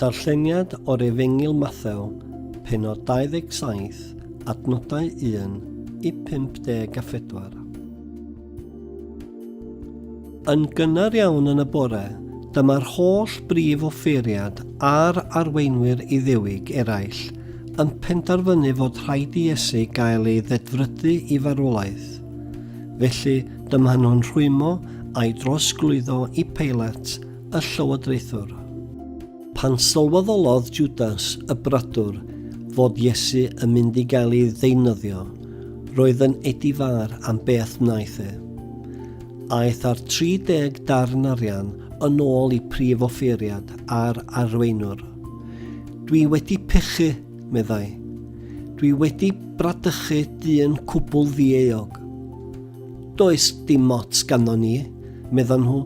Darlleniad o'r Efengyl Mathew, pennod 27, adnodau 1 i 54. Yn gynnar iawn yn y bore, dyma'r holl brif offeiriad a'r arweinwyr Iddewig eraill yn penderfynu fod rhaid i Iesu gael ei ddedfrydu i farwolaeth. Felly, dyma nhw'n rhwymo a'i drosglwyddo i Peilat y llywodraethwr. Pan sylweddolodd Jwdas y brydwr fod Iesu yn mynd i gael ei ddeunyddio, roedd yn edifar am beth wnaeth e. Aeth â'r 30 darn arian yn ôl i prif offeiriad a'r arweinwr. Dwi wedi pechu, meddai. Dwi wedi bradychu dyn cwbl ddieog. Does dim ots ganddo ni, meddan nhw.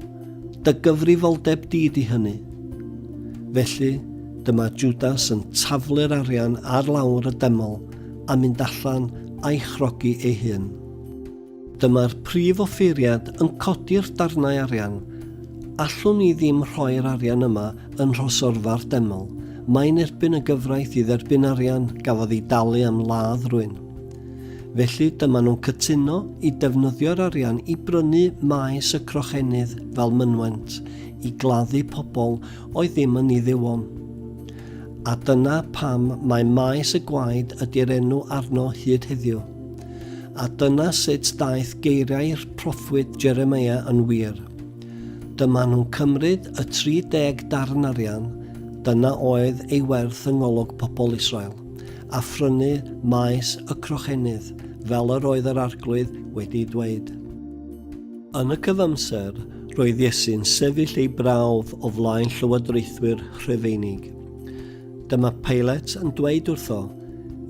Dy gyfrifoldeb di ydy hynny. Felly, dyma Jwdas yn taflu'r arian ar lawr y deml a mynd allan a'i chrogi ei hun. Dyma'r prif offeiriad yn codi'r darnau arian. Allwn ni ddim rhoi'r arian yma yn nhrosorfa'r deml. Mae'n erbyn y gyfraith i dderbyn arian, gafodd ei dalu am ladd rwyn. Felly, dyma nhw'n cytuno i defnyddio'r arian i brynu maes y Crochennydd fel mynwent i gladdu pobl oedd ddim yn Iddewon. A dyna pam mae Maes y Gwaed ydy'r enw arno hyd heddiw. A dyna sut daeth geiriau'r proffwyd Jeremia yn wir. Dyma nhw'n cymryd y 30 darn arian, dyna oedd ei werth yng ngolwg pobl Israel. a phrynu maes y Crochennydd, fel yr oedd yr Arglwydd wedi dweud. Yn y cyfamser, roedd Iesu'n sefyll ei brawf o flaen llywodraethwyr Rhufeinig. Dyma Pilate yn dweud wrtho,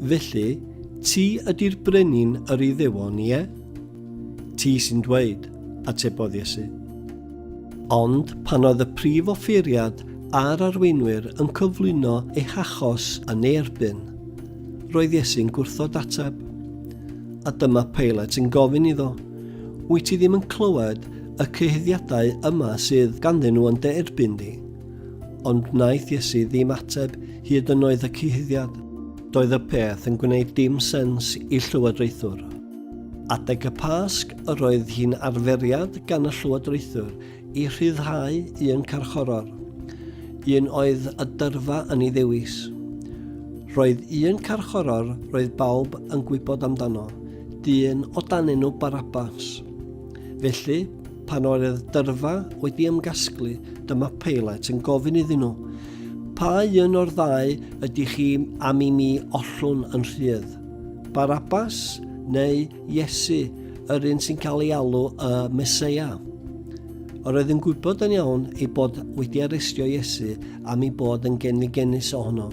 Felly, ti ydy'r brenin yr Iddewon, ie? Ti sy'n dweud, atebodd Iesu. Ond pan oedd y prif offeiriad a'r arweinwyr yn cyflwyno eu hachos yn ei erbyn, roedd Iesu'n gwrthod ateb. A dyma Pilate yn gofyn iddo, Wyt ti ddim yn clywed y cyhuddiadau yma sydd ganddyn nhw yn dy erbyn di? Ond wnaeth Iesu ddim ateb hyd yn oedd y cyhuddiad. Doedd y peth yn gwneud dim sens i llywodraethwr. Adeg y Pasg yr oedd hi'n arferiad gan y Llywodraethwr i rhyddhau un carchoror, un oedd y dyrfa yn ei ddewis. Roedd un carchoror roedd bawb yn gwybod amdano, dyn o dan enw Barabas. Felly, pan oedd dyrfa wedi ymgasglu, dyma Peilat yn gofyn iddyn nhw, Pa un o'r ddau ydych chi am i mi ollwn yn rhydd? Barabas neu Iesu, yr un sy'n cael ei alw y Mesoea. Yr oedd yn gwybod yn iawn ei bod wedi arestio Iesu am ei bod yn genfigenus ohono.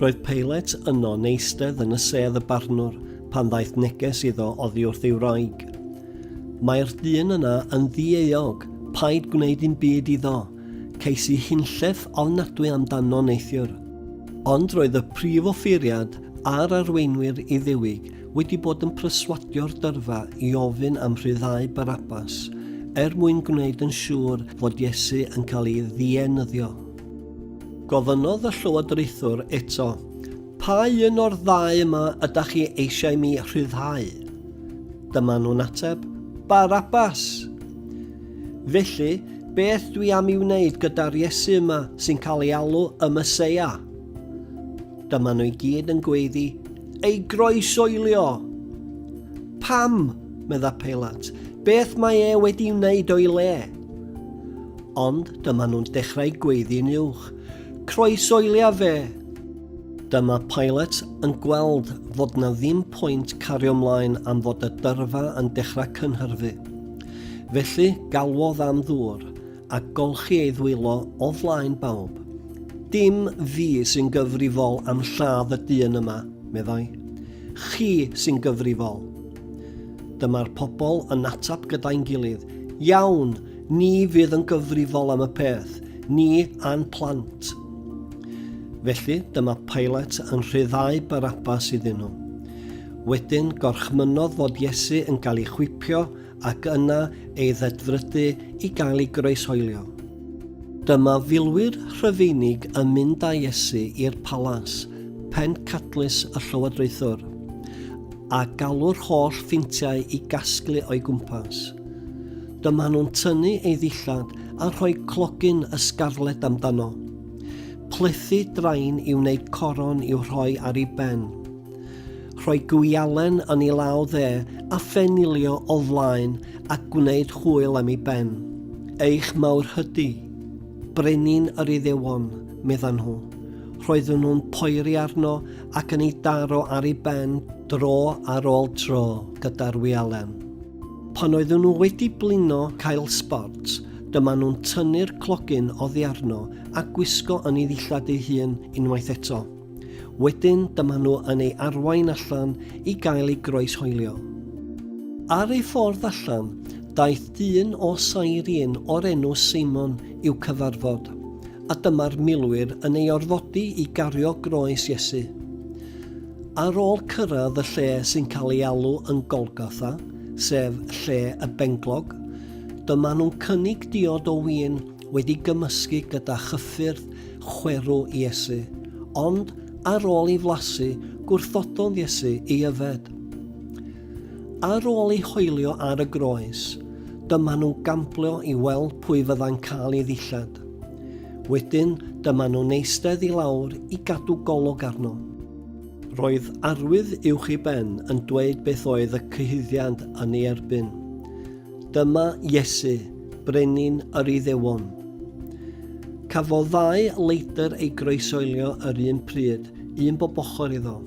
Roedd Peilet yno neistedd yn y sedd y barnwr pan ddaeth neges iddo oddi wrth ei wraig. Mae'r dyn yna yn ddieuog, paid gwneud un byd iddo. Ces i hunllef ofnadwy amdano neithiwr. Ond roedd y prif offeiriad a'r arweinwyr Iddewiig wedi bod yn pryswadio'r dyrfa i ofyn am rhyddhau Barabbas, er mwyn gwneud yn siŵr fod Iesu yn cael ei ddienyddio. Gofynnodd y llywodraethwr eto, Pa un o'r ddau yma ydach chi eisiau mi rhyddhau? Dyma nhw'n ateb, Barabbas! Felly, beth dwi am i wneud gyda'r Iesu yma sy'n cael ei alw y Meseia? Dyma nhw i gyd yn gweiddi, Ei groesoelio! Pam? medda Peilat. Beth mae e wedi wneud o'i le? Ond dyma nhw'n dechrau gweiddi'n uwch. Croesoelia fe! Dyma Pilot yn gweld fod na ddim pwynt cario mlaen am fod y dyrfa yn dechrau cynhyrfu. Felly galwodd am ddŵr a golchi ei ddwylo o flaen bawb. Dim fi sy'n gyfrifol am lladd y dyn yma, meddai. Chi sy'n gyfrifol. Dyma'r pobl yn ateb gyda'n gilydd, Iawn, ni fydd yn gyfrifol am y peth, ni a'n plant. Felly dyma Pilate yn rhyddhau Barabbas iddyn nhw. Wedyn gorchmynnodd fod Iesu yn cael ei chwipio ac yna ei ddedfrydu i gael ei groeshoelio. Dyma filwyr Rhufeinig yn mynd â Iesu i'r palas, pencadlys y llywodraethwr, a galw'r holl ffeintiau i gasglu o'i gwmpas. Dyma nhw'n tynnu ei ddillad a rhoi clogyn ysgarled amdano. Plethu drain i wneud coron i'w rhoi ar ei ben. Rhoi gwialen yn ei law dde a phenilio o flaen a gwneud chwyl am ei ben. Eich mawr hydy. Brenin yr Iddewon, meddan nhw. Roedden nhw'n poeri arno ac yn ei daro ar ei ben dro ar ôl tro gyda'r wialen. Pan oedden nhw wedi blino cael sbort, dyma nhw'n tynnu'r clogyn oddi arno a gwisgo yn ei ddillad ei hun unwaith eto. Wedyn dyma nhw yn ei arwain allan i gael ei groeshoelio. Ar ei ffordd allan, daeth dyn o Cyrene o'r enw Simon i'w cyfarfod, a dyma'r milwyr yn ei orfodi i gario groes Iesu. Ar ôl cyrraedd y lle sy'n cael ei alw yn Golgotha, sef lle y benglog, dyma nhw'n cynnig diod o win wedi gymysgu gyda chyffyrdd chwerw Iesu, ond ar ôl i flasu, gwrthododd Iesu i yfed. Ar ôl i hoelio ar y groes, dyma nhw'n gamplio i weld pwy fydda'n cael ei ddillad. Wedyn, dyma nhw'n eistedd i lawr i gadw golwg arno. Roedd arwydd uwch i ben yn dweud beth oedd y cyhuddiad yn ei erbyn. Dyma Iesu, Brenin yr Iddewon. Cafodd ddau leidr ei groesoelio yr un pryd, un bob ochr iddo.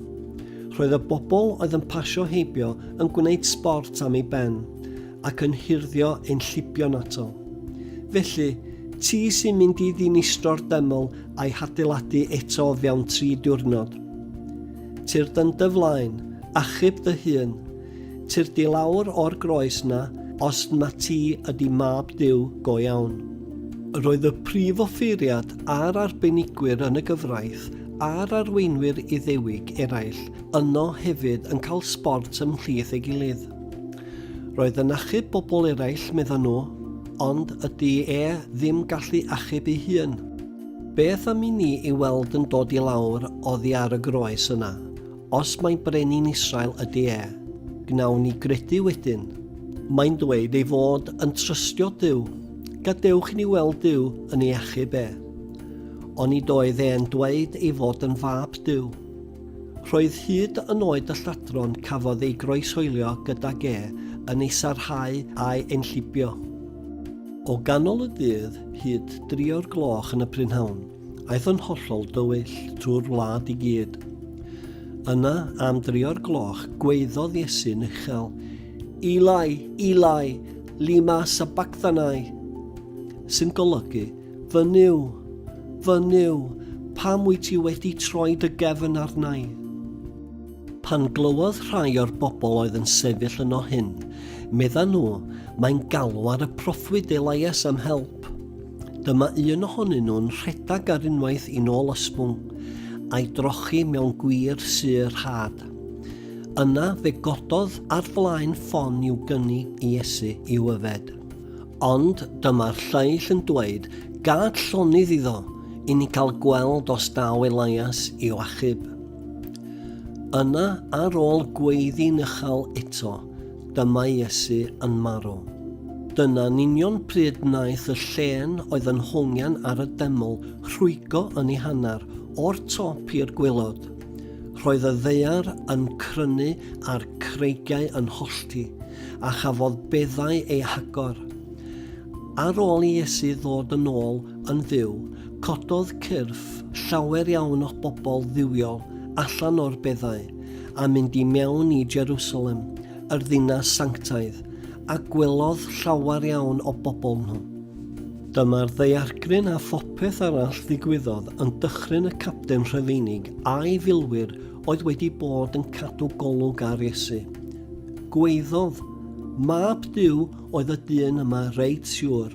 Roedd y bobl oedd yn pasio heibio yn gwneud sbort am ei ben ac yn hirddio ein llibion ato. Felly, ti sy'n mynd i ddinistro'r deml a'i hadeiladu eto fewn tri diwrnod. Tir dyn dy flaen, achub dy hun, Tyrdi lawr o'r groes 'na os na ti ydi mab Duw go iawn. Roedd y prif offeiriad a'r arbenigwyr yn y gyfraith a'r arweinwyr Iddewig eraill yno hefyd yn cael sbort ymhlith ei gilydd. Roedd yn achub bobl eraill, meddan nhw, ond ydi e ddim gallu achub ei hun? Beth am i ni ei weld yn dod i lawr oddi ar y groes yna, Os mai brenin Israel ydy e, gnawn ni gredu wedyn. Mae'n dweud ei fod yn trystio Duw. Gadewch i ni weld Duw yn ei achub e. Oni doedd e'n dweud ei fod yn fab Duw. Roedd hyd yn oed y lladron cafodd ei groeshoelio gydag e yn ei sarhau a'i enllibio. O ganol y dydd hyd drio'r gloch yn y prynhawn. Aeth yn hollol dywyll trwy'r wlad i gyd. Yna, am dri o'r gloch, gweiddodd Iesu'n uchel, Eli, Eli, lima sabachthani, sy'n golygu, Fy Nuw, fy Nuw, pam wyt ti wedi troi dy gefn arnau? Pan glywodd rhai o'r bobl oedd yn sefyll yno hyn, medda nhw, mae'n galw ar y proffwyd Elias am help. Dyma un ohonyn nhw'n rhedeg ar unwaith i nôl ysbwng, a'i drochi mewn gwir syr rhad. Yna fe gododd ar flaen ffon i'w gynni i Iesu i'w yfed. Ond dyma'r lleill yn dweud, Gad llonydd iddo, i ni gael gweld os daw Elias i'w achub. Yna, ar ôl gweiddi'n uchel eto, Dyma Iesu yn marw. Dyna'n union pryd wnaeth y llên oedd yn hongian ar y deml rhwygo yn ei hanner, o'r top i'r gwaelod. Roedd y ddaear yn crynu a'r creigiau yn hollti, a chafodd beddau ei hagor. Ar ôl i Iesu ddod yn ôl yn fyw, cododd cyrff llawer iawn o bobl dduwiol allan o'r beddau, a mynd i mewn i Jerusalem, yr ddinas sanctaidd, a gwelodd llawer iawn o bobl nhw. Dyma'r ddaeargryn a phopeth arall ddigwyddodd yn dychryn y capten Rhufeinig a'i filwyr oedd wedi bod yn cadw golwg ar Iesu. Gweiddodd, Mab Duw oedd y dyn yma reit siwr.